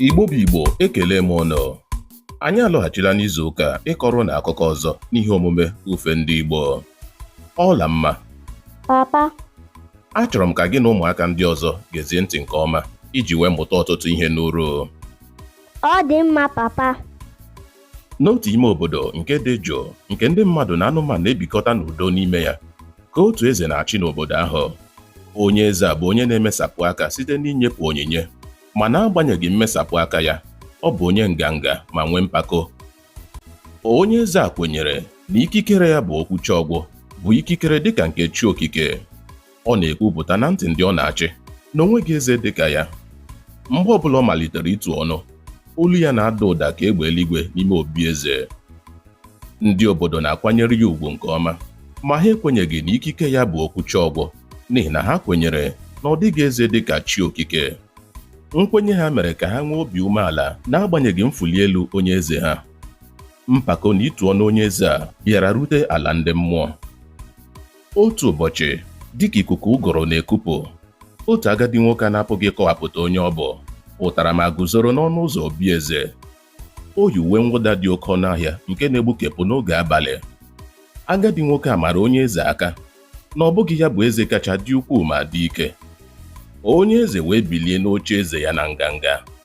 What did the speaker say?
Igbo bụ Igbo ekelee m ụnụ anyị alọghachila n'izu ụka a ịkọrọ ụnụ akụkọ ọzọ n'ihe omume ifo ndị Igbo Ọlamma papa achọrọ m ka gị na ụmụaka ndị ọzọ gezie ntị nke ọma iji wee mụta ọtụtụ ihe ị nụrụ ọ dị mma papa N'otu ime obodo nke dị jụụ nke ndị mmadụ na anụmanụ na-ebikọta n'udo n'ime ya, ka otu eze na-achị n'obodo ahụ. Onye eze a bụ onye na-emesapụ aka site n'inyepụ onyinye, ma n'agbanyeghị mmesapụ aka ya, ọ bụ onye nganga ma nwee mpako. Onye eze a kwenyere na ikikere ya bụ okwucha ọgwụ, bụ ikikere dịka nke chi okike. Ọ na-ekwupụta na ntị ndị ọ na-achị na o nweghị eze dị ka ya. Mgbe ọ bụla ọ malitere itu ọnụ, olu ya na-ada ụda ka egbe eluigwe n'ime obi eze. Ndị obodo na-akwanyere ya ugwu nke ọma, ma ha ekwenyeghị na ikike ya bụ okwucha ọgwụ n'ihi na ha kwenyere na ọ dịghị eze dị ka chi okike. Nkwenye ha mere ka ha nwee obi umeala n'agbanyeghị mfuli elu onye eze ha. Mpako na itu ọnụ onye eze a bịara rute ala ndị mmụọ. Otu ụbọchị, dịka ikuku ụgụrụ na-ekupụ, otu agadi nwoke a na-apụghị ịkọwapụta onye ọ bụ pụtara ma guzoro n'ọnụ ụzọ obi eze. O yi uwe mwụda dị oke ọnụ ahịa nke na-egbukepụ n'oge abalị. Agadi nwoke a mara onye eze aka na ọ bụghị ya bụ eze kacha dị ukwuu ma dị ike. Onye eze wee bilie n'oche eze ya na nganga.